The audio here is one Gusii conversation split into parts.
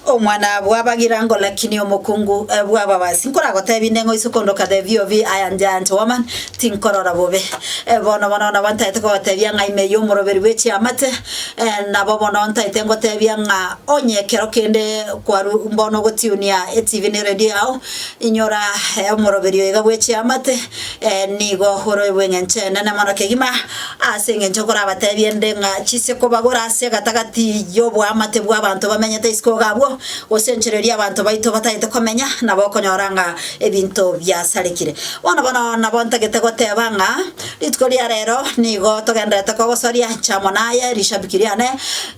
Omwanabwo abagira ngo lakini omokungu bw'ababasi nkoragotebie nde ng'a oise kondo okade biobi aya njanche wamani tinkorora bobe. Bono bono nabo ntaete kogotebia ng'a ime y'omoroberi bwe chiamate nabo bono ntaete ngotebia ng'a onye ekero kende kwaru mbono ogotunia etv ne radio yao inyora omoroberi oiga bwe chiamate Ee, nigo oroibwe engencho enene mono kegima, ase engencho nkorabateebie nde ng'a chise kobagora ase egatagati y'oboamate bw'abanto bamenyete isiko iga abwo, gose enchera eria abanto baito batagete komenya, nabo okonyora ng'a ebinto biasarekire. Bono bono nabo ntagete goteeba ng'a rituko ria reero nigo togendererete kogosoria chamo naye rishabiki riane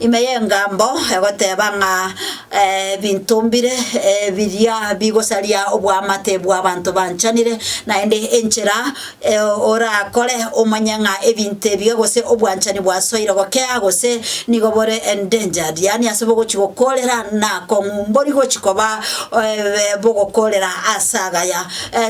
ime y'engambo egoteeba ng'a. Ebinto mbire biria bigosaria oboamate bw'abanto banchanire, naende enchera orakore omanye ng'a ebinto ebiya gose obwanchani bwasoire gokea gose nigo bore endangered, yaani ase bogochia gokoorera na akong'u mbori gochia koba bogokoorera ase agaya.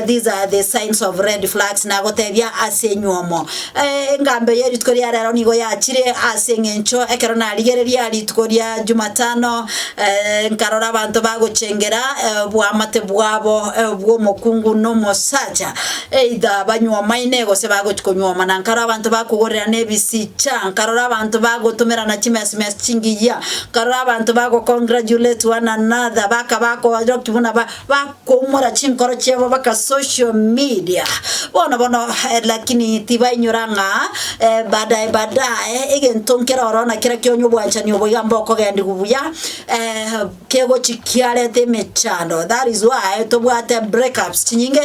These are the signs of red flags, nagotebia ase enywomo. Eh, engambe ye rituko ria rero nigo yachire ase eng'encho ekero narigereria rituko ria Jumatano, eh, nkarora abanto bagochengera eh, obwamate bwabo eh, bw'omokungu n'omosacha, either banywomaine gose bagochi konywoma, na nkarora abanto bakogorerana ebisicha, nkarora abanto bagotomerana chimesimesi chingiyia, nkarora abanto bago-congratulate one another, bakaba ko- buna ba- ba Koumora chinkoro chiabo baka social media bono bono lakini tibainyora ng'a badae badae egento nkere oro na kera kionye obwanchani obo iga mbokogendigwa buya kegochi kiarete emechando that is why tobwate breakups chinyinge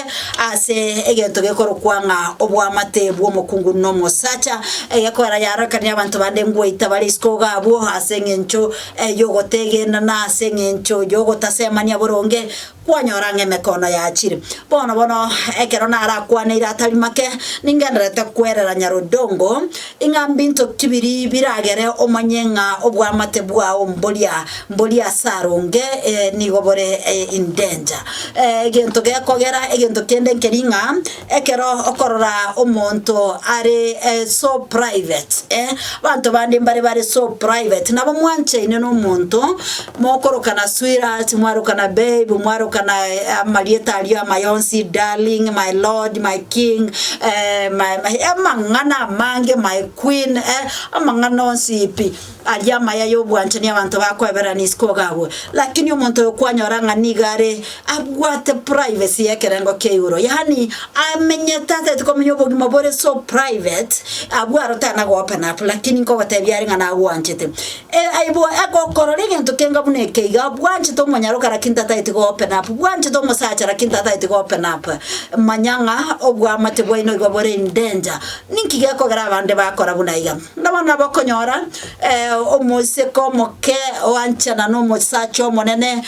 ase egento gekorokwa ng'a obwamate bw'omokungu na omosacha egekorera yarorekanirie abanto bande ngoita bare isiko iga abwo ase eng'encho ey'ogotegenera na ase engencho y'ogotasemania boronge kwanyora ng'a emekono yachire. Bono bono ekero narakwaneire atari make, ningendererete kwerera Nyar'odongo ing'a mbinto ki biri biragere omanye ng'a obwamate bwao mboria mboria ase aronge nigo bore in danger. Egento gekogera egento kende nkeri ng'a. Ekero okorora omonto are so private eh, abanto bande mbare bare so private, nabo mwanchaine na omonto, mokorokana sweetheart, mwarokana babe, mwarokana amarieta aria amaya onsi, darling, my lord, my king, eh my my amang'ana amange, my queen eh, amang'ana onsi pi. Aria amaya y'obwanchani abanto bakweberana isiko gagwe, lakini omonto oyo kwanyora ng'a nigo are abwate privacy y'ekerengo kia igoro, yaani amenyete ataeti komenya obogima bore so private, abwo arotana goopena up, lakini nkogotebia are ng'a nagwanchete. E, aibo egokorora egento kenga buna eke iga, bwanchete omonyaroka lakini tataeti goopena up, bwanchete omosacha lakini tataeti goopena up, manya ng'a obwamate bwaino igo bore in danger. Ninki gekogera abande bakora buna iga? Ng'a bono abokonyora omosike omoke oanchana n'omosacha omonene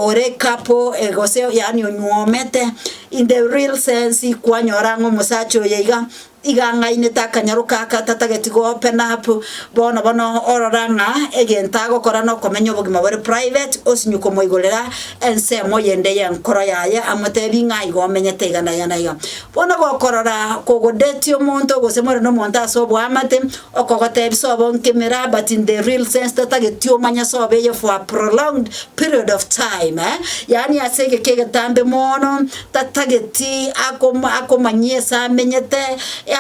ore kapo gose yaani onywomete, in the real sense kwanyora ng'a omosacha oyo iga iga ang'ainete akanyaroka aka atatageti go-open up, bono bono orora ng'a egento agokora nokomenya obogima bore private, osinywe komoigorera ensemo eyende y'enkoro yaye amotebi ng'a iga omenyete iga na iga na iga. Bono gokorora kogodetie omonto gose more nomonto ase oboamate, okogotebia sobo nke emeraa but in the real sense totageti omanye sobo eye for a prolonged period of time eh, yaani ase egeke egetambe moono tatageti akoma akomanyia ase amenyete,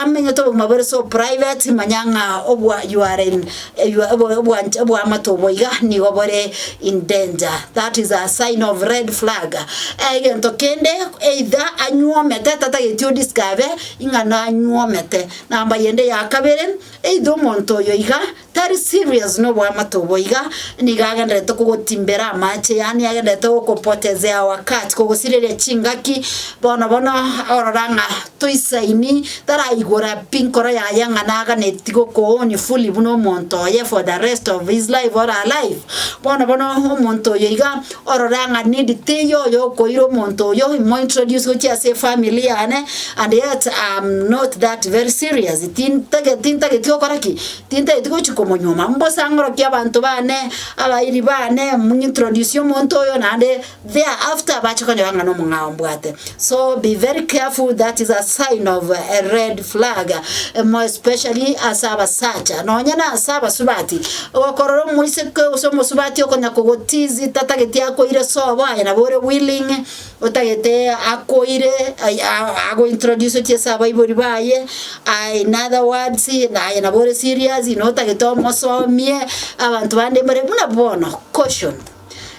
amenyete obogima bore so private manya ng'a obwa you are in. Erio obo- obwancha bw'amato obo iga nigo bore in danger, that is a sign of red flag. Eh, egento kende either anywomete tatageti odiskabe ing'a nanywomete. Namba yende ya kabere, either omonto oyo iga tari serious na obwamato obo iga, nigo agenderete kogotimbera amache yaani agenderete gokopotezea wakati kogosireria chingaki bono bono orora ng'a Toisaini taraigora pi nkoro yaye ng'a naganeti gokoonia fully buna omonto oye for the rest of his life or her life. Bono bono omonto oyo iga orora ng'a nindi teiyo oyo okoira omonto oyo imointroduce gochia ase efamily yane and yet am not that very serious tintage tintageti gokora ki? Tintageti gochi komonyuoma. Mbosang'orokie abanto bane, abairi bane, mumintrodusie omonto oyo naende. There after bache konyora ng'a nomong'ao mbwate so be very careful that is a sign of a red flag more especially ase abasacha nonye na ase abasubati okorora omoiseke gose omosubati okonya kogotizi tatageti akoire sobo aye nabo ore willing otagete akoire ai a- ago introduce chie ase abaibori baye aye in other words naye nabo ore serious notagete omosomie abanto bande mbare buna bono caution.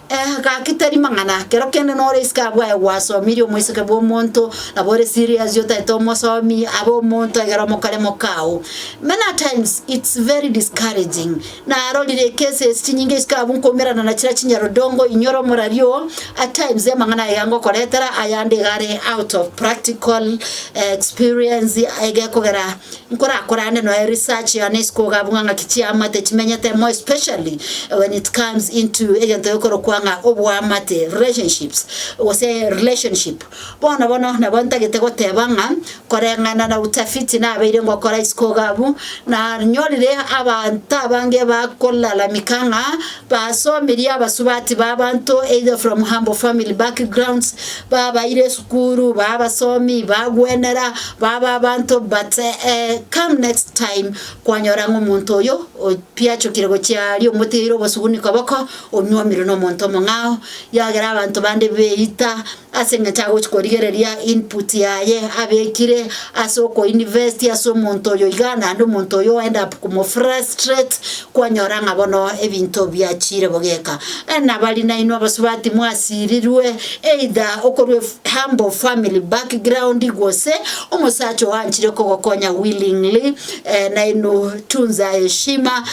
Eh, gaki tari mang'ana, kero kende nore isiko abwo aye gwasomirie omoiseke bw'omonto, nabo ore serious otaete omosomi abe omonto egere omokore mokao. Many a times it's very discouraging. Narorire ecases ase chinyinga isiko abwo nkoumerana na chira chinyarudongo inyore omorari oo, at times amang'ana aye iga ngokoretera ayande iga are out of practical eh, experience egekogera Nkorakorane noe research yane isiko ogabung'a ng'aki chiamate chimenyete more especially when it comes into egento gekorokwa ng'a oboamate, relationships, gose relationship. Bono bono nabo ntagete goteba ng'a koreng'ana na utafiti nabeire ngokora isiko ogabu, nanyorire abanto abange bakolalamika ng'a Basomirie abasubati b'abanto either from humble family backgrounds, babaire esukuru, ba abasomi, bagwenera, baba abanto but eh, come next time kwanyora ng'a omonto oyo o- piachokire gochia aria omoteire obosuguni koboko, onyuomire nomonto omong'ao, yagera abanto bande beita, ase engencho agochia korigereria input yaye abekire ase okoinvest ase omonto oyo iga, naende omonto oyo o-end up komofrustrate, kwanyora ng'a bono ebinto biachiire bogeka. Nabari nainwe abasubati mwasirirwe either okorwa ef- humble family background gose omosacha oanchire kogokonya willingly nainwe otunza heshima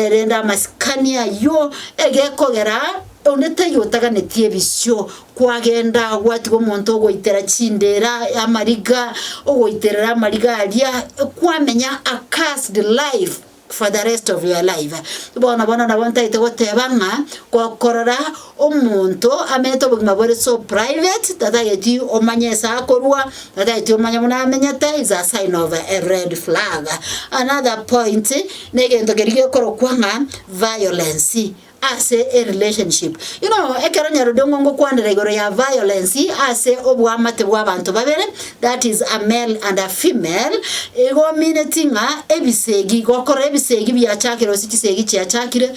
rende amasikani aywo egekogera onde taiyo otaganeti ebisio. Kwagenda gwatigwa omonto ogoitera chindeera amariga, ogoiterera amariga aria kwamenya a cursed life for the rest of your life. Bono bono nabo ntaete goteba ng'a gokorora omonto amenyete obogima bore so private tatageti omanye ase akorwa, tatageti omanye buna amenyete is a sign of a red flag. Another point, na egento keria gekorokwa ng'a violence. ase e relationship. Ino ekero nyarodio ng'o ngokwanera igoro ya violence ase oboamate bw'abanto babere, that is a male and a female, igo omineti ng'a ebisegi, gokora ebisegi biachakire gose chisegi chiachakire,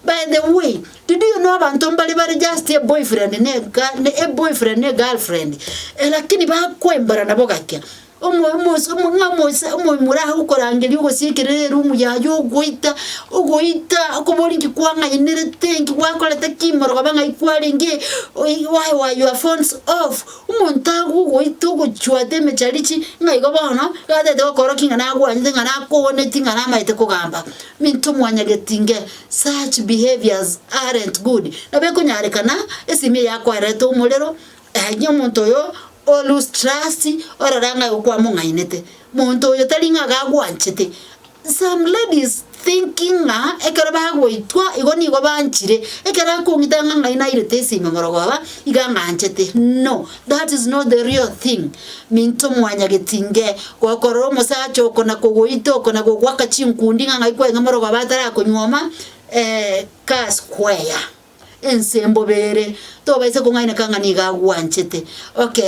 by the way, did you know abanto mbare bare just a boyfriend na a girl na a boyfriend na a girlfriend, eh lakini bakoembara nabo gaki. Omo- omos- omo- ng'a omos- omoimura aye gokorangeria ogosiekera erumu yaye ogoita ogoita okobori inki kwang'ainerete inki gwakorete ki morogaba ng'ai kwarenge oi why were your phones off, omonto agogoita ogochwata emecharichi ng'a igo bono gatete gokora ki ng'a nagwanyete ng'a nakooneti ng'a namaete kogamba, minto mwanyageti inge such behaviors aren't good. Nabo ekonyarekana esimi eye yakwarerete omorero, Aye omonto oyo o Lustrasi orore ng'a kwamong'ainete, monto oyo tari ng'a gagwanchete. Some ladies thinking ng'a ekero bagoitwa igo nigo banchire, ekero akong'ita ng'a ng'ai nairete esime morogooba, iga ng'anchete. No, that is not the real thing. Minto mwanyageti nge gokorora omosacha oko na kogoita oko na gogoaka chinkundi ng'a ng'ai kweng'e morogooba atarakonyuoma, eeh ka square. Ense mbobe ere, tobaisa kong'aineka ng'a nigo agwanchete. Ok,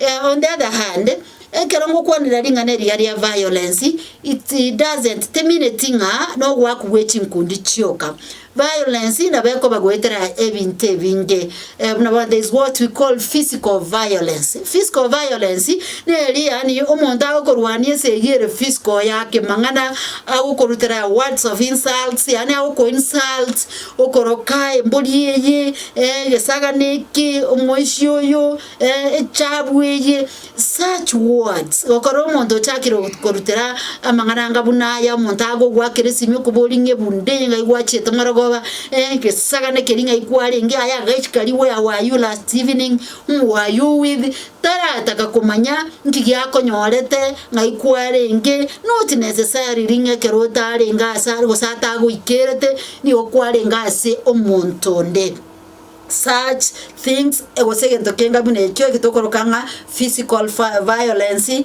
eh, on the other hand, ekero ngokwanera ring'ana eria ria violence, it doesn't, timineti ng'a nogoaku gwe chinkundi chioka. Violence nabo ekoba goetera ebinto ebinge, eh, buna bono there is what we call physical violence. Physical violence neri yaani omonto agokorwania ense eyio ere physical yake mang'ana, agokorutera words of insults, yaani agokoinsult, Okoroka embori eye, egesagane eke, omoisia oyo, echabu eye, such words. Gokora omonto ochakire korutera amang'ana anga buna aya, omonto agogoakera esimi okobori ng'a ebu nde ng'a igo achiete marogoba, egesagane keria ng'a igo kwarenge, aye agachika riboyago ayio last evening, omoyio owithi, tarataka komanya nki giakonyorete ng'ai kwarenge not necessary ring ekero otarenge ase are gose atagoikerete nigo kwarenge ase omonto onde. Such things gose egento keinga buna ekio eki tokoroka ng'a physical violence.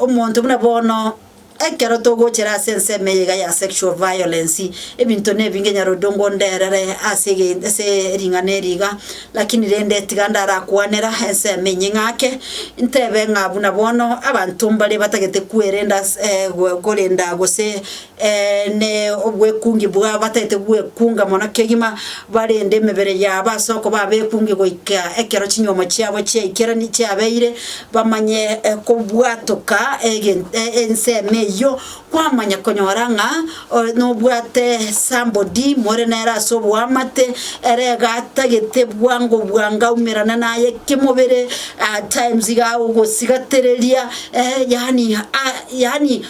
Omonto buna bono ekero togochera ase ensemo eye iga ya sexual violence, ebinto nebinge nyarodongo onderere ase egen ase ring'ana eri iga, lakini rende tiga ndarakwanera ensemo enye ng'ake, ntebe ng'a buna bono abanto mbare batagete kwerenda ase korenda gose Ee, ne obwekungi bwao bataete gwekunga mono kegima, barende emebere yabo ase okoba abekungi goika ekero chinyuomo chiabo chiaikerani chiabeire, bamanye kobwatoka egen ensemo eyio, kwamanya konyora ng'a nobwate somebody more nere ase oboamate, ere iga atagete bwango bwango aumerane naye kemobere, at times iga agosigatireria, yaani yaani.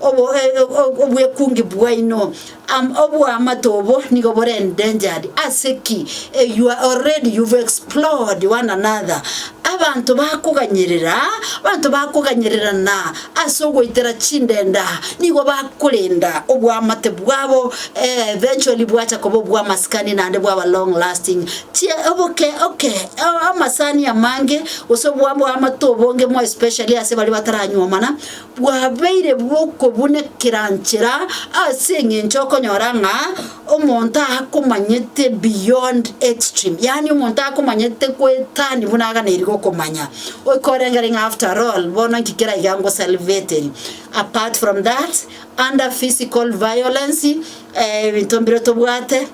obwekungi bwaino, oboamato obo nigo bore endangered, ase ki? You are already, you've explored one another. Abanto bakoganyerera, abanto bakoganyererana ase ogoitera chindenda, nigo bakorenda oboamate bwabo, eventually bwacha koba obwamasikani naende bwaba long lasting. Chie oboke oke amasani amange gose obwamato obonge more especially ase baria bataranyuomana, Bwabeire bw'okobuna ekeranchera ase engencho okonyora ng'a omonto akomanyete beyond extreme, yaani omonto akomanyete goetani buna aganeiri gokomanya, okorengeri ng'a after all bono inki kera iga ngosalveteri. Apart from that, under physical violence, ebinto mbire tobwate,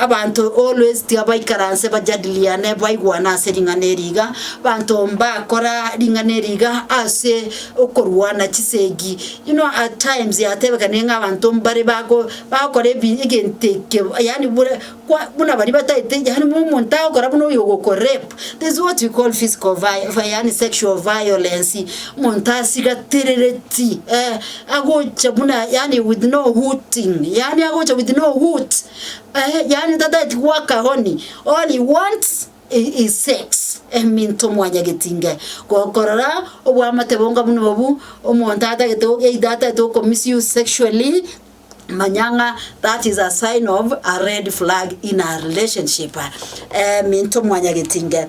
Abanto always tiga baikaranse bajadiliane baigwane ase ring'ana eri iga, abanto mbakora ring'ana eri iga ase okorwana chisegi. You know at times yatebekanire ng'a abanto mbare bago bagokora ebi egento eke yaani bore kwa buna baria bataete yaani buna omonto agokora buna oyo ogokorape, there is what we call physical vio- vi yaani sexual violence, omonto asigaterereti eeh. agocha buna yaani with no hooting, yaani agocha with no hoot, ehe, yaani tataeti goaka honi, all he wants i- is sex, eminto mwanyageti inga ko- korora oboamate bonga buna obwo, omonto atagete o- either atagete oko misuse sexually, manya ng'a that is a sign of a red flag in a relationship, eminto mwanyageti inga.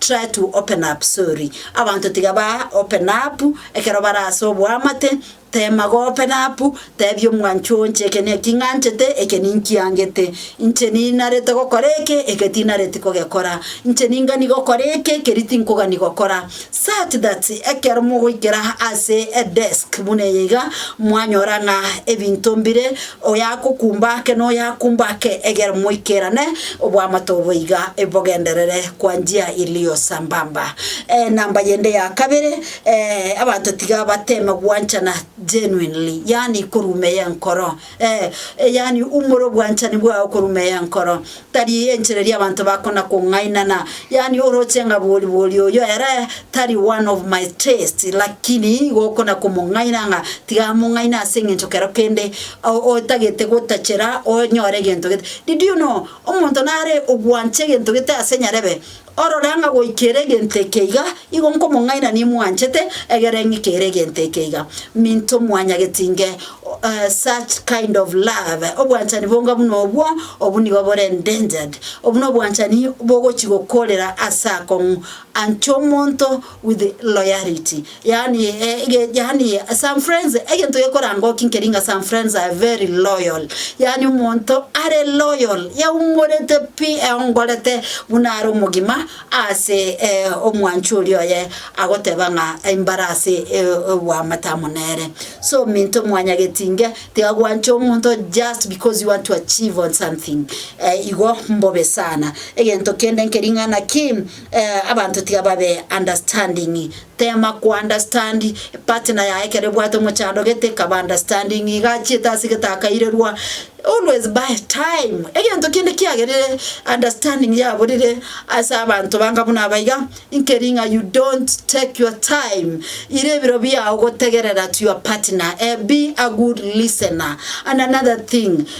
Try to open up, sorry. Abanto tiga ba open up ekero bare ase oboamate, teema go open up, teebia omwanchwa oo inche eke naki ng'anchete, eke ninkiangete, inche ninarete gokora eke, eke tinareti kogekora, inche ningani gokora eke, keri tinkogani gokora, such that ekero mogoikera ase edesk buna eye iga, mwanyora ng'a ebinto mbire. Oyagokumba ake noyakumba ake, egere moikerane oboamato boiga bogenderere kwa njia ilio sambamba. Enamba yende ya kabere, eh, abanto tiga bateme gwanchana genuinely, yaani korumeyia enkoro, eh, yaani umore obwanchani bwao korumeyia enkoro. Tari enchera eria abanto bakona-kong'ainana, yaani oroche ng'a boribori oyo ere tari one of my taste, lakini igo okona-komong'aina ng'a tiga among'aine ase eng'encho kero kende o- otagete gotachera onyore egento gete. Did you know, omonto nare ogwancha egento gete ase nyarebe, Orore ng'a goika ere egento eke iga, igo nkomong'aina nimwanchete, egere ng'ika ere egento eke iga. Minto mwanyagete inge, such kind of love, obwanchani bonga buna obwo, obwo nigo bore endangered. Obwo nobwanchani bogochi gokorera ase akong'u ancha omonto, with loyalty yaani yaani some friends egento gekora ngoki nkeri ng'a some friends are very loyal yaani omonto are loyal yaumorete pi eongorete buna are omogima ase omwancho oria oye agoteba ng'a mbara ase oboamate amo nere so minto mwanya getinge tiga gwancha omonto just because you want to achieve on something igo mbobe sana egento kende nkeri ng'a naki. Abanto tiga babe understanding, tema ko understand partner yaye ekero ebwate omochando gete kaba understanding iga achiete ase getakairerwa always buy time egento kende kiagerire understanding yaburire ase abanto banga buna aba iga inkeri ng'a you don't take your time ire ebiro biao gotegerera to your partner be a good listener and another thing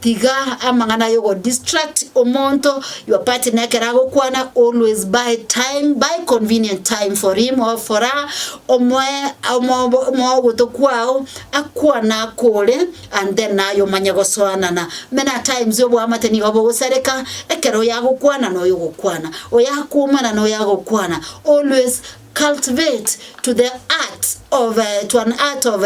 Tiga amang'ana ay'ogodistract omonto, your partner ekero agokwana, always buy time, buy convenient time for him or for her, omoe omobo omogoto kwao akwane ako ore, and then naye omanye gosoanana. Many a times oboamate nigo bogosareka, ekero oyo agokwana na oyo ogokwana, oyo akoumana na oyo agokwana, always Cultivate to the art of to an art of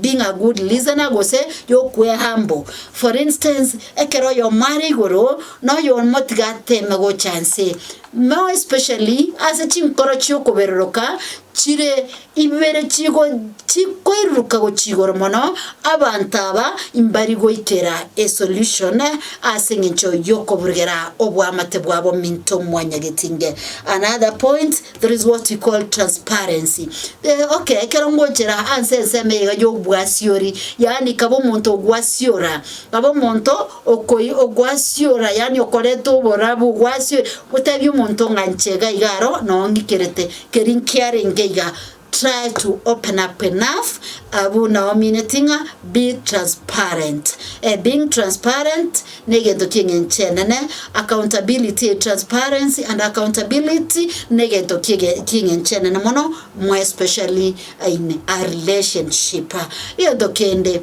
being a good listener gose y'okwe humble. For instance, ekero oyomo are igoro noyomotiga ateme gocha nse, more especially ase chinkoro chi'okoberoroka chire ibere chigo Tikoiruruka gochia igoro mono, abanto aba mbari goikera e solution ase engencho yokoburugera oboamate bwabo minto mwanyageti nge. Another point, there is what we call transparency. Eh, okay, ekero ngochera anse ensemo eye iga y'obwasiori, yaani kaba omonto ogwasiora, kaba omonto okoi ogwasiora yaani okoreta oborabu ogwasiore, otebie omonto ng'a nche iga iga aro noo ng'ikerete, keri nkiarenge iga. Try to open up enough, abwo naomineti ng'a be transparent. Eh, being transparent negento ki'eng'encho enene, accountability, eh, transparency and accountability negento ki'ege ki'eng'encho enene mono, more especially in a relationship. Egento kende,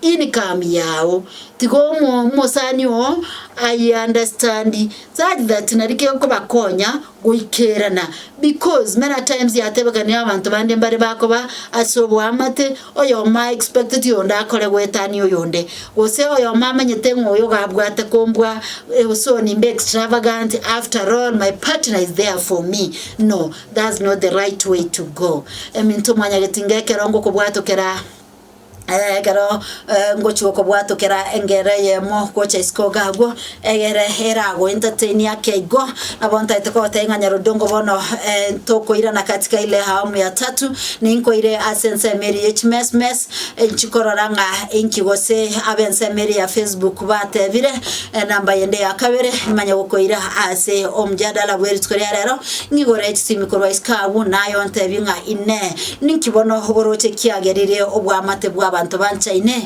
income yao. Tiga omo omosani oo I understand such that nari kegokobakonya goikerana because many a times yatebekanirie abanto bande mbare bakoba ase oboamate oyomo a expecteti oyonde akore goetania oyonde gose oyomo amanyete ng'a oyo iga abwate kombua eh so nimbe extravagant after all my partner is there for me no that's not the right way to go. Eminto mwanyagete inga ekero ngokobwatokera. ekero ngochia okobwatokera engero eyemo gocha isiko iga agwo, egere eragoentertainie ake igo, nabo ntaete kogotebia ng'a Nyarodongo bono tokoirana katika ile awamu ya tatu, ninkoire ase ensemo eria ya chimesmes, inchi korora ng'a inki gose ab'ensemo eria ya facebook batebire, enamba yende ya kabere nimanye gokoira ase omjadala bwerituko ria rero, ng'igore chisiimi korwa isiko agwo, naye ontebie ng'a inee. Ninki bono oboroche kiagerire obwamate bw'abanto banchaine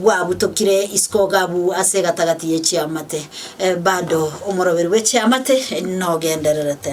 bwabutokire isiko gabu ase egatagati ye chiamate? Bado omoroberi bwe chiamate nogendererete.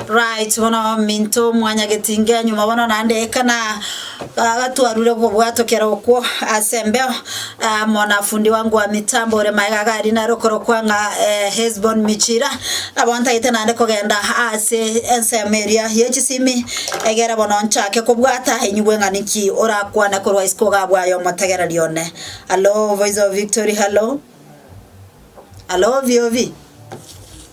Right bono ominto omwanya getingia nyuma bono naende ekana agatwarure obwo bwato kera okwo ase embeo amo na fundi wangu wa mitambo ore maega iga rinare okorokwa ng'a eh, Hesbon Michira nabo ntagete naende kogenda ase ensemo eria ye chisimi egere bono nchake kobwata enyigwe ng'a niki orakwane korwa isiko iga bwaye omotegereri one. Hallo voice of victory hallo hallo oviovi.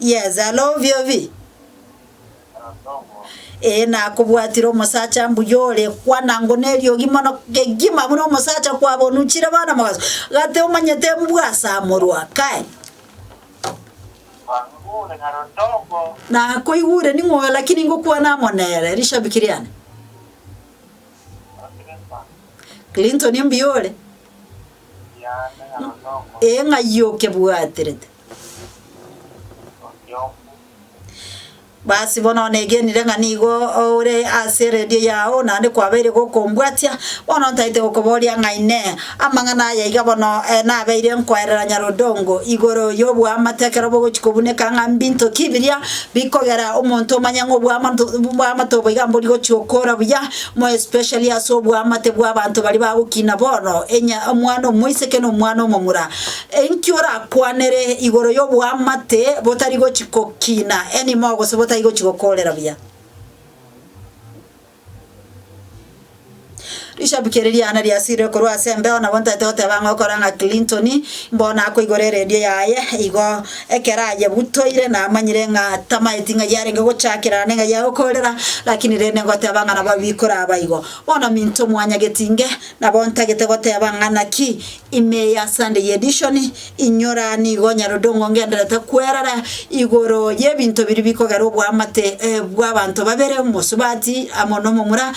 Yes alo obio bi. Ee nakobwatire omosacha mbuya ore kwana ngo neriogi mono kegima buna omosacha kwabonuchire bono mogaso gati omanyete mbwasamorwa kae. Nakoigure ning'oyo lakini ngokwana amo nere rishabiki riane. Clinton mbuya ore. Ee, ng'ai okebwaterete? Basi bono negenire ng'a nigo ore ase eredio yao, naende kwabeire gokombwatia. Bono ntaete gokoboria ng'a inee! Amang'ana aya iga bono nabeire nkoerera Nyarodongo igoro y'oboamate ekero bogochia kobuneka ng'a mbinto ki biria bikogera omonto omanye ng'a oboamate obo iga mbori gochia okora buya. more especially ase oboamate bw'abanto baria bagokina bono, enya omwana omoiseke na omwana omomura, inki orakwanere igoro y'oboamate botari gochi kokina anymore gose botari gochi gokorera buya? Rishabiki eri riane riasirire korwa ase embeo, nabo ntaete goteba ng'a okore ng'a Clinton, mbono akoigora eredio yaye igo. Ekero ayebutoire namanyire ng'a tamaeti ng'ai arenge gochakerana neng'ai ya gokoorera, lakini rende ngoteba ng'a nabo bikoraba igo. Bono minto mwanya getinge, nabo ntagete goteba ng'a naki ime ya Sunday Edition inyora nigo nyarondongo ngenderete kwerara igoro y'ebinto biria bikogera oboamate bw'abanto babere, omosubati amo nomomura,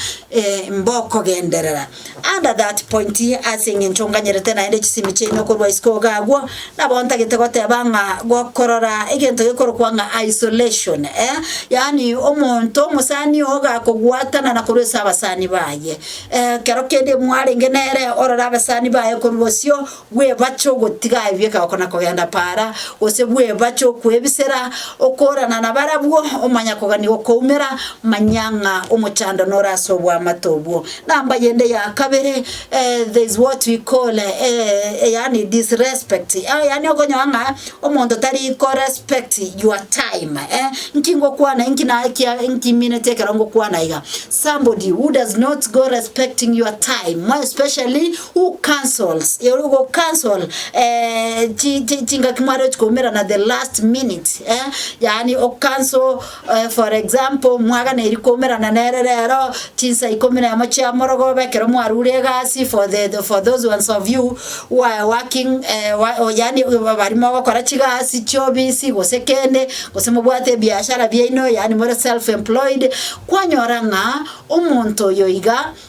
mbokogenderera. Under that point, ase engencho nganyerete naende chisemi chiaino korwa isiko iga agwo, nabo ntagete goteba ng'a gokorora egento gekorokwa ng'a isolation, eh, yaani omonto omosani oo iga akogwatanana korwa ase abasani baye, eh, ekero kende mwarenge nere orore abasani baye korwa bosio, bw'ebache ogotiga ebieka oko na kogenda para, gose bw'ebache okwebisera, okoorana na barabwo, omanya kogania gokoumera, manya ng'a omochando nore ase obwamate obwo. Number yende ya kabere, eh, there is what we call eh, yaani disrespect, eh, yaani okonyora ng'a omonto tari ko respect your time, eh, nki ngokwana inki naye kia inki mineti ekero ngokwana iga, somebody who does not go respecting your time, more especially. Who cancels you go cancel eh, chi- chi- chingaki mwarochi koumerana the last minute eh? yaani o cancel eh, for example mwaganeiri koumerana nere rero chinsa ikomi na emo chia morogoba ekero mwarure egasi for the, the for those ones of you who are working eh, wa, o- yaani ba- bari mogokora chigasi chiobisi gose kende gose mobwate ebiashara biaino yaani more self employed kwanyora ng'a omonto oyo iga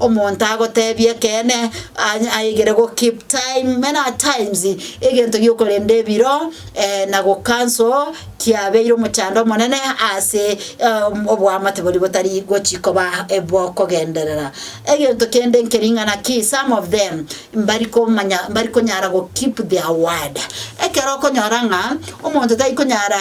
Omonto agoteebia ekeene, a- aigere gokeep time, many a times egento gi'okorenda ebiro na gocancel kiabeire omochando omonene ase om- oboamate boria botari gochi koba bokogenderera. Egento kende nkering'ana ki, some of them mbari komanya mbari konyara gokeep their word. Ekero okonyora ng'a omonto tari konyara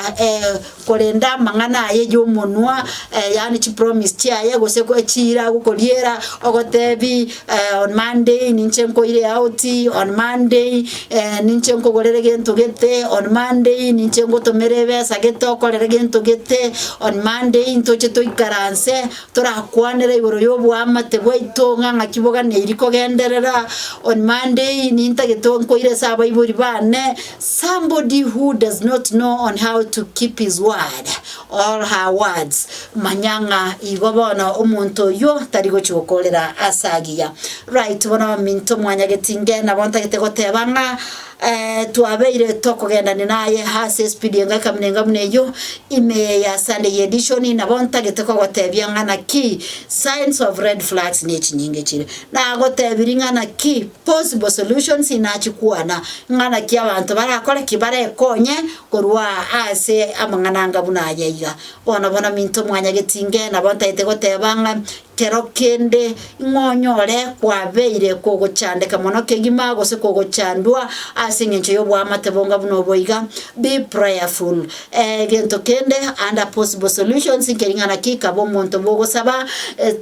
korende amang'ana aye y'omonwa, eh, yaani chipromise chiaye, gose ko echiira agokoriera, ogotebi eh, on Monday ninche nkoire out, on Monday eh, ninche nkogorere gento gete, on Monday ninche ngotomere ebesa gete okorere gento gete, on Monday ntoche toikaranse torakwanere igoro y'oboamate bwaito ng'a ng'aki boganeiri kogenderera, on Monday nintagete nkoire ase abaibori bane. Somebody who does not know on how to keep his word or her words, manya ng'a igo bono omonto oyio tari gochia gokorera ase agiya. Right, bono ominto mwanyageti inge nabo ntagete goteba ng'a eh, twabeire tokogendania naye ase espidi engaka buna enga buna eyio ime ya Sunday edition, nabo ntagete kogotebia ng'a naki signs of red flags ne echinyinga echire. Nagotebirie ng'a naki Possible solutions inachikwana ng'a naki abanto barakore ki barekonye korwa ase amang'ana anga buna aya iga. Bono bono minto mwanya getinge nabo ntaete goteba ng'a kero kende ng'a onyore kwabeire kogochandeka mono kegima gose kogochandwa ase engencho y'oboamate bonga buna obo iga, be prayerful. Egento kende, under possible solutions, nkering'ana ki kaba omonto bogosaba,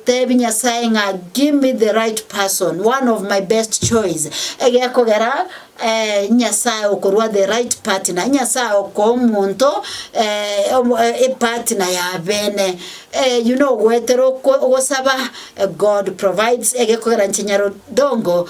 tebi Nyasae ng'a give me the right person, one of my best choice, egekogera Nyasae okorua the right partner, Nyasae okoa omonto epartner ya bene. Eyio nogoetera okwe ogosaba, God provides, egekogera nchinyaro dongo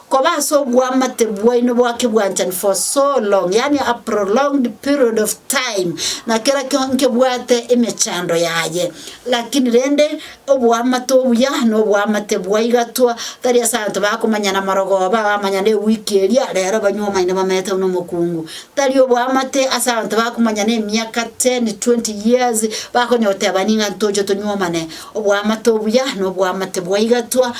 Koba ase obwamate bwaino bwa kebwanchani for so long, yaani a prolonged period of time, na kera kio nkebwate emechando yaye. Lakini rende, obwamate obuya nobwamate bwa igatwa, tari ase abanto bakomanya namarogoba, bamanya newiki eria, rero banywe omaene bamete buna omokungu. Tari obwamate ase abanto bakomanya nemiaka ten, twenty years, bakonya goteba ning'a ntoche tonywe omane. Oboamate obuya noboamate bwaigatwa,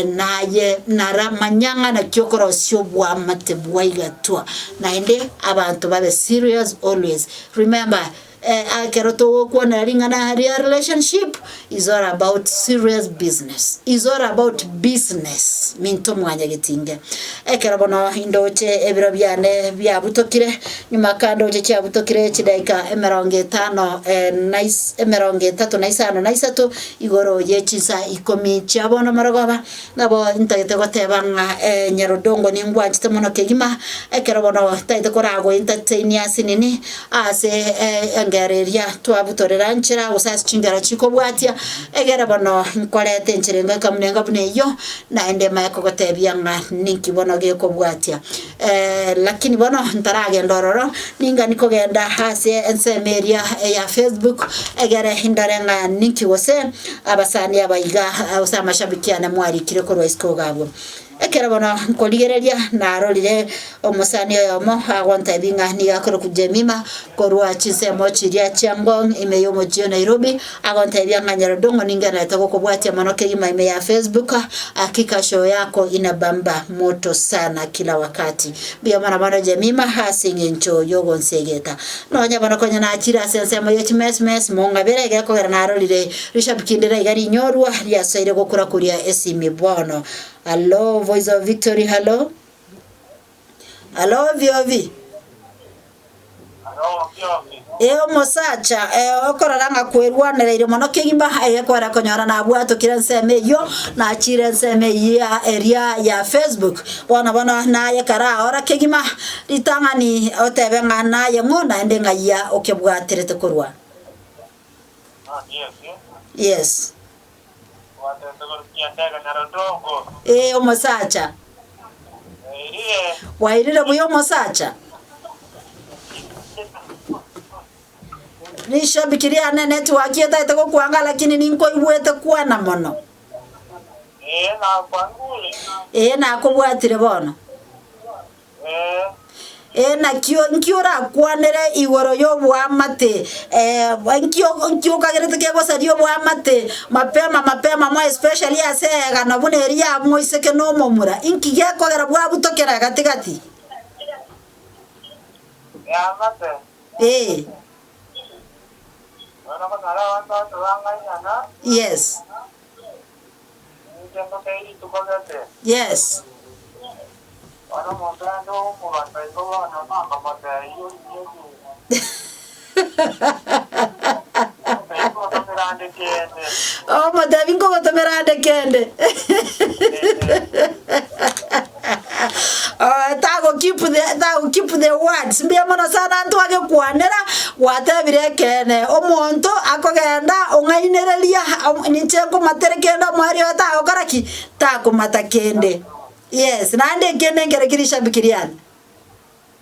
naye nara manya ng'a naki okorosia oboamate bwaigatwa, naende abanto babe serious always. Remember, ekero togokwanera ring'ana aria relationship is all about serious business, is all about business minto mwanyagetinge. Ekero bono indoche ebiro biane biabutokire, Nyuma kando oche chiabutokire chidaika emerongo etano na emerongo etato na isano na isato igoro ye chinsa ikomi chia bono marogoba, nabo ntagete goteba ng'a Nyarodongo ningwanchete mono kegima, ekero bono tagete koragoe ntatainie ase nini ase engero eria twabutorera nchera gose ase chingero chikobwatia, egere bono nkorete enchera engoika buna enga buna eyio, naende mae kogotebia ng'a ninki bono gekobwatia. Lakini bono ntaragenda ororo, ningani kogenda ase ensemo eria ya Facebook egere ndore ng'a ninki gose abasani aba iga gose amashabiki ane mwarikire korwa isiko iga abwo. Ekero bono nkorigereria narorire omosani oyomo agontebia ng'a nigo akorokwa Jemima korwa chinsemo chiria chia Ngong ime yomochie o Nairobi, Agoteebia ng'a nyarobi ong'o ninge arete gokobwatia mono kegima ime ya Facebook, hakika show yako inabamba moto sana kila wakati. Mbuya mono bono Jemima ase eng'encho yogonsiegeta. Nonya bono konya nachire ase ensemo ye chimesmes mong'abere iga ekogera narorire rishabiki ndire iga rinyorwa riasoire gokura kuria esimi bono. Hallo voice of victory hallo. Aloobi-oobi, ee omosacha okorora ng'a kwerwanereire mono kegima aye kwere konyora nabwatokire ensemo eyio nachiire ensemo eyia eria ya Facebook. Bono bono naye karaora kegima ritang'ani otebe ng'a naye ng'o naende ng'ai okebwaterete korwa. Yes. Ee, omosacha. Gwairire buya omosacha? Rishabiki rianene tiwaki etaete gokwanga lakini ninkoigwete kwana mono. Ee, nakobwatire bono. Ee, nakio inki orakwanere igoro y'oboamate? Ee, inki o- inki okagerete kegosaria oboamate mapema mapema mo especially ase eegana buna eri ya moiseke na omomura? Inki gekogera bwabutokera gati gati? Eamate, Ee, nonya konyora abanto abanto bang'ainana, yes. Yes. Omotebi nkogotomera ande kende. Oe tago keep the tago keep the words mbuya mono sana ntwagekwanera gwatebire ekeene omonto akogenda ong'ainereria ha o ninche nkomatere kende omwari oye tagokora ki takomata kende yes naende ekiya nenkere kiri shabiki riane.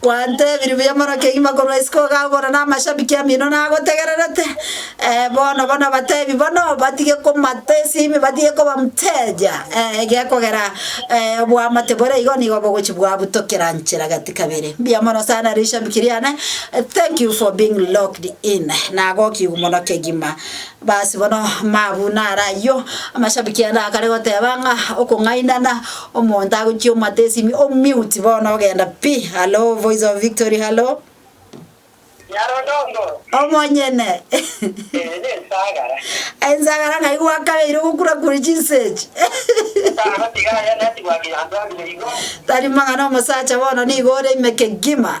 Kwantebirie buya mono kegima korwa isiko ogagora na amashabiki amino nagotegererete. Eh, bono bono batebi bono batige komata esimi batige koba mteja. Eh, egekogera eh, obwamate bore igo nigo bogochi bwabutokera nchera gati kabere. Mbuya mono sana rishabiki riane. Eh, Thank you for being locked in. Nagokigu mono kegima. Basi bono mabu naro ayio, amashabiki ande akare goteba ng'a okong'ainana, omonto agochia omate esimi o mute bono ogenda pi. Hallo voice of victory hallo. Nyarodondo. Omonyene. Eye ne nsagara. Ensagara ng'ai gwakabeire ogokura kure chinsechi. Tano tiga aye neti gwaki yanto abire igo. Tari mang'ana omosacha bono nigo ore ime kegima.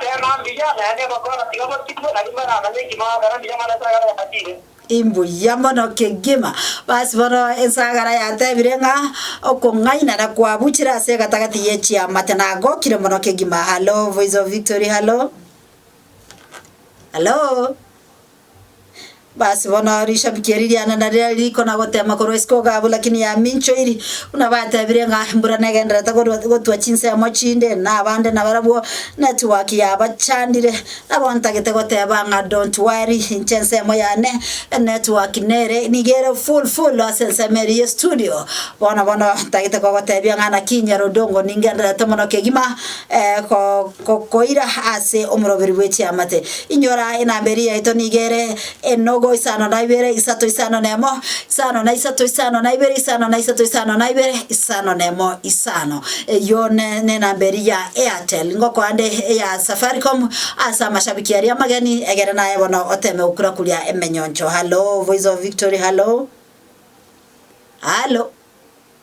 Teema mbuya naende egokora, tiga botigwe, na rimo eramanye engima agokora mbuya mono esagara yabatire. Imbuya mono kegima. Basi bono ensagara yatebire ng'a okong'ainana kwabuchire ase egatagati ye chiamate nagokire mono kegima. Hallo voice of victory hallo? Hallo? Basi bono rishabiki eri riane nariria riko na gotema korwa isiko igabu, lakini yaminchoiri, buna batebire ng'a embura negendererete korwa gotwa chinsemo chinde, na abande nabarabwo network yabachandire. Nabo ntagete goteba ng'a don't worry, inche ensemo yane enetwork nere niga ere full full ase ensemo eri ye studio. Bono bono ntagete kogotebia ng'a naki Nyarodongo ningendererete mono kegima ko. Gokoira ase omoroberi bwe chiamate. Inyora enamba eria yaito nigo ere, enogo, isano na ibere, isato, isano na emo, isano na isato, isano na ibere, isano na isato, isano na ibere, isano na emo, isano. Eyio ne nenamba eria ya Airtel. Ngokoa nde eya Safaricom ase amashabiki aria amageni, egere naye bono oteme gokura kuria emenyoncho. Hallo, voice of victory, hallo? Hallo?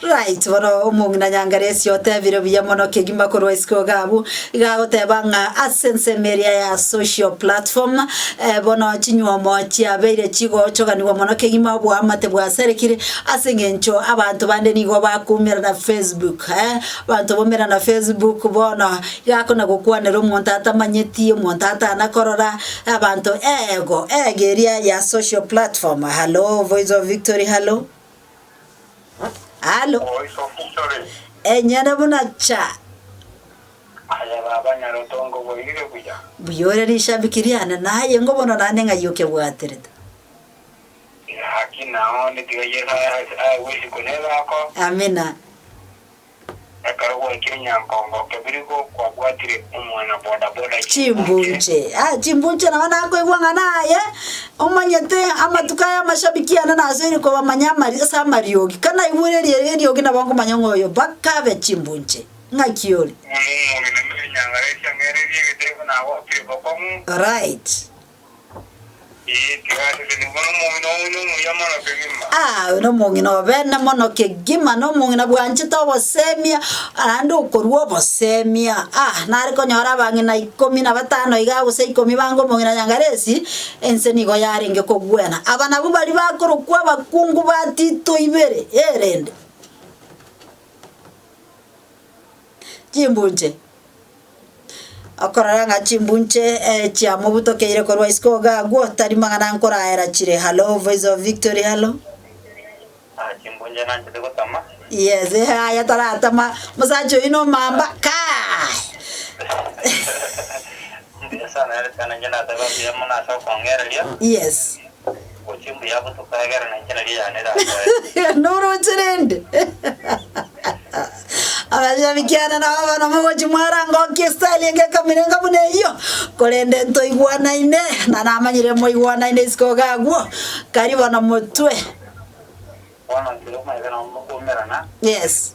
Right bono omong'ina nyangare esia otebire buya mono kegima korwa isiko iga abwo iga agoteba ng'a ase ensemo eria ya social platform eh, bono chinywomo chiabeire chigochoganigwa mono kegima oboamate bwasarekire ase eng'encho abanto bande nigo bakoumerana facebook eh, abanto baumerana facebook bono iga akona gokwanera omonto atamanyeti, omonto atana korora abanto eego eege eria ya social platform. Hallo voice of victory hallo. Halo. Enyene buna cha. Mbuya ore rishabiki riane, naye ngobono naende ng'ai okebwaterete. Amina. Ekero gwaikire nyankongo kebiri kwabwatire omwana boda boda chimbuche. Chimbuche. Ah, chimbuche nabo nakoigwa ng'a naye omanyete amatuko aya amashabiki ane nasoire kobamanya amari ase amariogi. Kanaigure erie eriogi nabo nkomanya ng'a oyo mpaka abe chimbuche. Ng'aki ore? Ng'o nomogeni na enyangare esia ng'ererie egetebo nagokire bokong'u? Alright. Aa, oyo nomong'ina obene mono kegima, na omong'ina bwanchete obosemia, naende okorua obosemia. Aa, nare konyora abang'ina ikomi na batano igaa, gose ikomi bange omong'ina Nyangaresi, ense nigo yarenge kogwena. Aba nabwo baria bakorokwa abakungu ba Tito ibere, erende chimbunche. Okorora ng'a chimbunche eh, chiamobutokeire korwa isiko iga agwo, tari magana nkoraera chire. Hallo, Voice of Victory, hallo. Ah, chimbunje nanchete gotama. Yes, eh, aya taratama. Mosacha oyi nomamba. Kai! Mbuya sana ere sana nje nateba mbuya mono ase okongereria. Yes. Oche mbuya gotoka egere nainche nario yane erakoe. Noroche rende? Abachenu kiane nabo bono mogochi mwarangokia estyle enge ekamirenga buna eyio, korende ntoigwanaine, na namanyire moigwanaine isiko iga agwo, kari bono motwe. Bono nkere omoyega nabo mokomerana. Yes.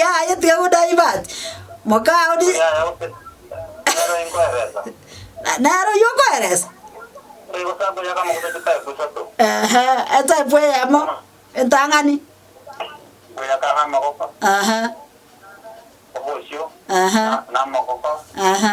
Yaya tiga go divert mokao di nero oywo okoeresa ehe etype eyemo entang'ani ehe ehe ehe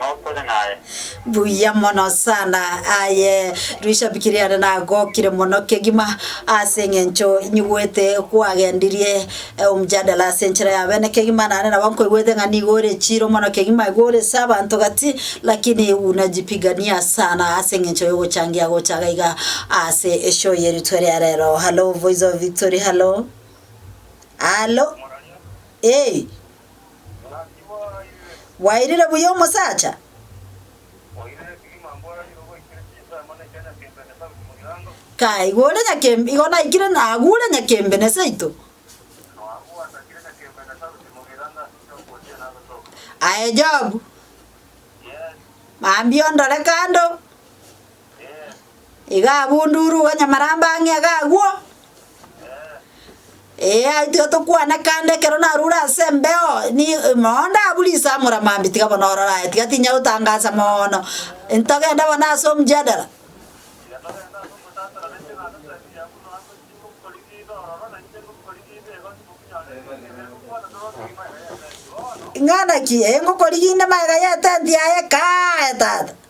notore naye. Buya mono sana. Aye rishabiki riane nagokire mono kegima ase eng'encho nyigwete kwagendirie eh, omjadala ase enchera ya bene kegima nane nabo nkoigwete ng'a nigo ore chiro mono kegima igo ore ase abanto gati lakini unajipigania sana ase eng'encho yogochangia gocha iga iga ase eshow yeritwe eria rero. Hallo voice of victory hallo. Hallo. Ee. Bwairire buya omosacha? Kaigure nyakembe igo naikire nagure nyakembe ne seito. Aye Job, mambia ondore kando, Iga abunduru onye marambe ang'e iga agwo, ee aitire tokwane kande ekero narure ase embeo ni mooo ndabure ase amore mambia tiga bono ororo aye tiga tinya gotangasa moono ntogende bono ase omjadala. Ing'ana ki? Ee ngokorigia inde magega y'etenti yaye kaaye tata.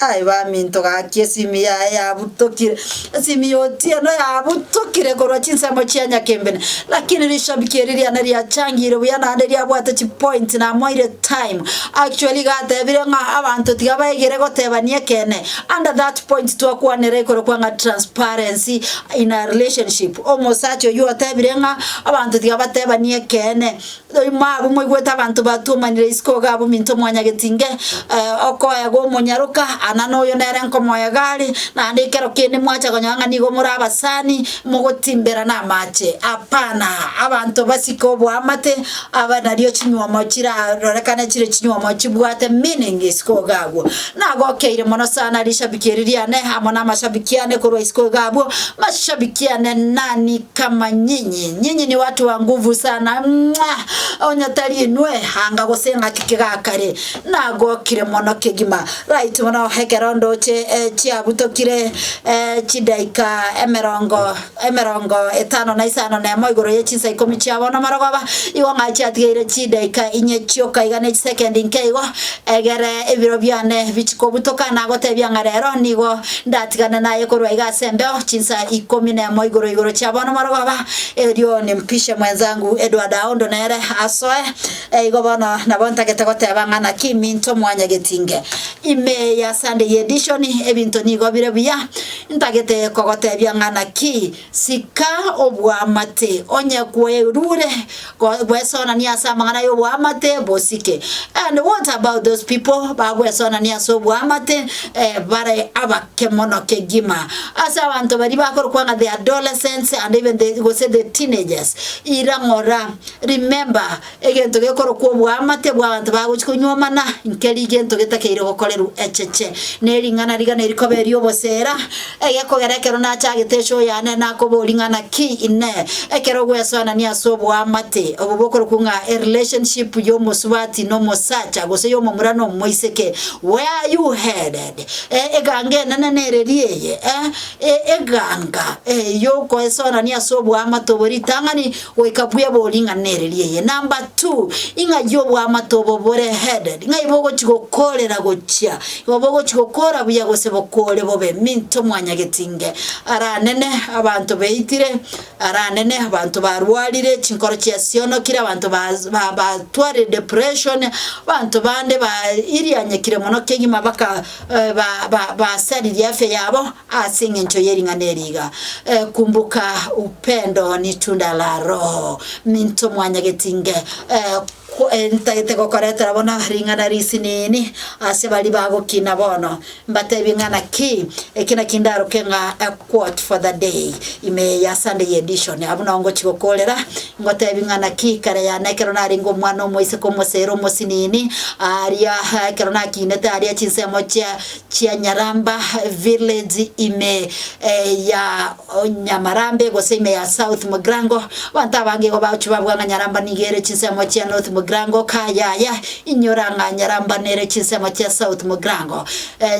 Aye baminto gaki esimi yaye yabutokire, esimi ya Otieno yabutokire korwa chinsemo chia Nyakembene, lakini rishabiki eri riane riachangire buya naende riabwate chipointi namoire time. Actually iga atebire ng'a abanto tiga baigere gotebania ekeene under that point twakwanera igoro kwa ng'a transparency in a relationship. Omosacha oyio otebire ng'a abanto tiga batebani ekeene. Nyuma abwo moigwete abanto batuomanire isiko iga abwo minto mwanyagetinge okoegwa omonyaroka, ana noyo nere nkomoega are, naende ekero kende mwacha konyora ng'a nigo more abasani, mogotimbera namache. Hapana, abanto basike oboamate, abe nario chinyuomo chirarorekane chire chinyuomo chibwate meaning isiko iga abwo. Nagokeire mono sana rishabiki eri riane amo namashabiki ane korwa isiko iga abwo mashabiki ane nani kama nyinyi nyinyi ni watu wa nguvu sana mwah onye tari inwe anga gose ng'aki kegakare nagokire mono kegima right bono ekero ndoche chiabutokire chidaika emerongo emerongo etano na isano na emo igoro ye chinsa ikomi chiabo nomarogoba, igo ng'a chiatigeire chidaika inye chioka iga ne chisekendi nke igo, egere ebiro biane bichie kobutoka, nagotebia ng'a rero nigo ndatigane naye korwa iga ase embeo, chinsa ikomi na emo igoro igoro chiabo nomarogoba, erio nimpishe mwenzangu Edward Aondo nere asoe. Eigo bono nabo ntagete goteba ng'a naki minto mwanyegeti inge ime ya Sunday edition, ebinto nigo bire buya. Ntagete kogotebia ng'a naki, sika oboamate, onye kwerure gwesonania ase amang'ana y'oboamate bosike. And what about those people bagwesonania ase oboamate bare abake mono kegima? Ase abanto baria bakorokwa ng'a the adolescents and even the gose the teenagers, ira ng'ora, remember, Egento gekorokwa oboamate bw'abanto bagochia konywa amana inke rigento getakeire obokoreru echeche, na ering'ana rigana erikoba eri'obosera. Egekogera ekero nachagete eche oyane nakoboria ng'a naki inee ekero ogwesoanania ase oboamate obo bokorokwa ng'a erelationship y'omosubati n'omosacha gose y'omomura n'omoiseke, where are you headed? Eh, eganga enene nereri eye, eh, eh, eganga, eh, y'okoesoanania ase oboamate obo ritang'ani, Goika buya boring'ana ere ri'eye number two, ing'ai y'oboamate obo bore headed, ng'ai bogochi gokorera gochia, igo bogochi gokora buya gose bokore bobe, minto mwanyageti nge, aranene abanto baitire, aranene abanto barwarire, chinkoro chiasionokire, abanto bas ba batwarire depression, abanto bande ba irianyekire mono kegima baka ba ba basaririe afya yabo. Ase engencho ye ring'ana eri iga, Kumbuka Upendo Ni Tunda La Roho, minto mwanyageti inge, ntagete gokoretera bono ring'ana risinini ase baria bagokina bono, mbatebie ng'a naki eki naki ndaroke ng'a a quote for the day, ime eye ya Sunday edition. Abwo nao ngochi gokoorera, ngotebie ng'a naki kare yane ekero narenge omwana omoiseke omosero omosinini, aaria ekero nakinete aaria chinsemo chia chia Nyaramba village ime ya Nyamarambe gose ime ya South Mugrango. Abanto abange igo bagochia babua ng'a Nyaramba nigo ere chinsemo chia North Mugrango kaa yaya inyora ng'a Nyaramba nere chinsemo chia South Mugrango.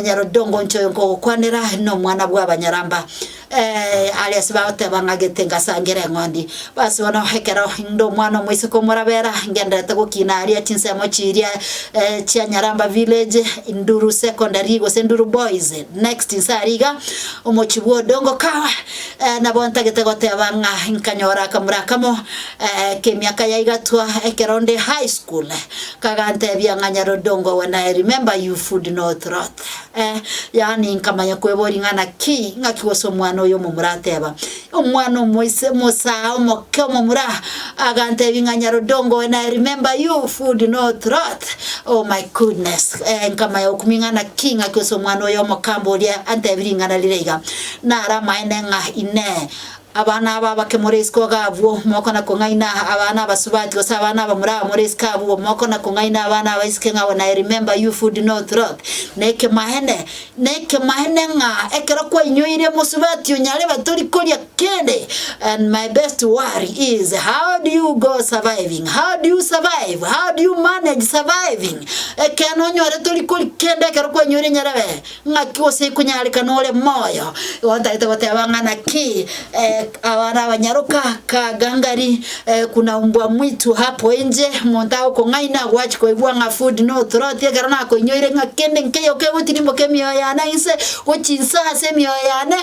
Nyarondongo inche oyo nkogokwanera nomwana bw'Abanyaramba. Ee, aria ase bagoteba ng'a gete ngasangere eng'ondi. Basi bono ekero inde omwana omoiseke omorabera, ngendererete gokina aria chinsemo chiria chia Nyaramba Village, Nduru Secondary gose Nduru Boys, next inse aria iga, omochie bwa Odongo Kawa, nabo ntagete goteba ng'a nkanyora akamura akamo k'emiaka yaigatwa ekero nde high school, kagantebia ng'a Nyar'odongo when I remember you food not rot. Eh, yaani nkamanya kweboria ng'a naki, ng'aki gose omwana oyo omomura ateba, Omwana omoise, omosaa omoke omomura, agantebia ng'a Nyarudongo when I remember you, food no troth, oh my goodness. Eh, nkamanya gokumia ng'a naki, ng'aki gose omwana oyo omokamba oria antebi ring'ana rire iga. Nare amaene ng'a, Inee! Abana aba abake more isiko iga abwo, mokona kong'aina abana abasubati gose abana abamura aba more isiko abwo, mokona kong'aina abana abaiseke ng'a when I remember you food no troth. Nekemaene, nekemaene ng'a ekero kwainyoire mosubati onyarebe tori koria kende and my best worry is how do you go surviving, how do you survive, how do you manage surviving ekeene onyore tori koria kende ekero kwainyoire nyarebe. Ng'aki gose ikonyaareka nore moyo, otarete goteba ng'a naki abana abanyaroka ka gangari kuna umbwa mwitu hapo inje, omonto agokong'aina agwache koigwa ng'a food no throat ekero nakoinyoire ng'a kende nkeiyo kegotirimboka emioyo yane ase inse gochia inse ase emioyo yane,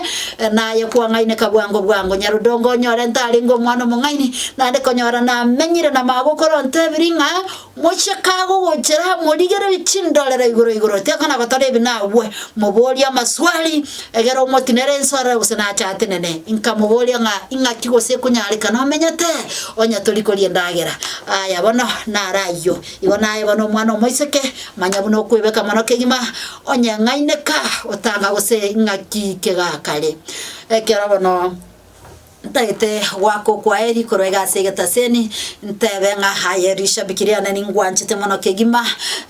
naye kwang'aineka bwango bwango. Nyarodongo onyore ntarenge omwana omong'aini, naende konyora namenyire na magokora ontebirie ng'a Mocheke agogochera, morigererie chindorero igoro igoro, tiga kona gotora ebi nagwe, moborie amaswali, egere omotinere ense orore gose nache atenene. Inka moborie ng'a ing'aki gose ekonyareka nomenyete, onye tori koria endagera. Aya bono naro ayio, igo naye bono omwana omoiseke, manya buna okwebeka mono kegima, onye ng'aineka otanga gose ing'aki kegakare. Ekero bono. Ntagete goaka okwaeri korwa egasi egetaseni, ntebe ng'a aye rishabiki riane ningwanchete mono kegima,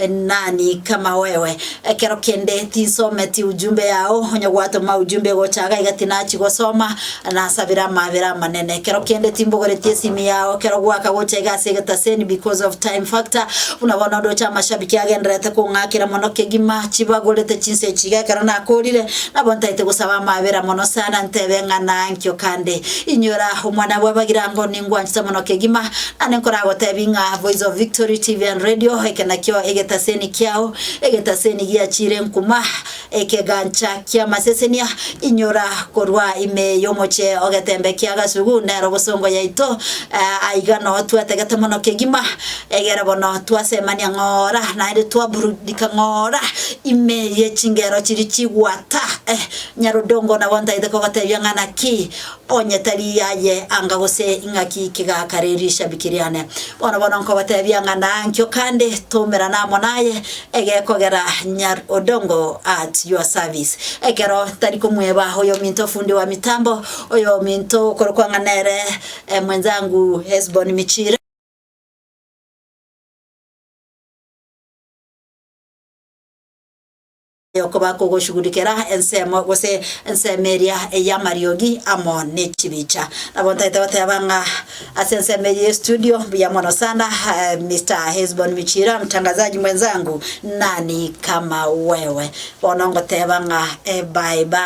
nani kama wewe. Ekero kende tinsometi ujumbe yao, onye gwatoma ujumbe egocha iga iga tinachi gosoma, nasabire amaabera amanene. Ekero kende timbogoretie esimi yao ekero gwaaka gocha egasi egetaseni because of time factor, buna bono ndoche amashabiki agendererete kong'akera mono kegima, chibagorete chinsa echi iga ekero nakorire, Nabo ntaete gosaba amaabera mono sana, ntebe ng'a naanki okande, Inyora, omwana bw'abagirango, ningwanchete mono kegima, na ninkoragoteebia ng'a, Boizo Victory TV and Radio, eke nakio egetaseni kiao, egetaseni giachiire nkuma, ekegancha ki'amasesenia, inyora, korwa ime y'omoche ogetembe ki'agasugu, nero bosongo yaito, aiga noo twatagete mono kegima, Egere bono twasemania ng'ora, naende twaburudika ng'ora ime ye chingero chiria chigwata. Eh, Nyarodongo nabo ntaete kogotebia ng'a naki onye tari yaye anga gose ing'aki kigaka re rishabiki riane. Bono bono nkogotebia ng'a nankio kande tomerana amo naye egekogera Nyar Odongo at your service. Ekero ntari komweba oyominto fundi wa mitambo, oyominto okorokwa ng'a nere eh, mwenzangu Hesbon Michire, okoba kogoshugurikera ensemo gose ensemo eria ey'amariogi amo ne chibicha. Nabo ntaete goteba ng'a ase ensemo eye y'estudio mbuya mono sana eh, Mr. Hesbon Michira, mtangazaji mwenzangu, nani kama wewe. Bono ngoteba ng'a eh, bye bye.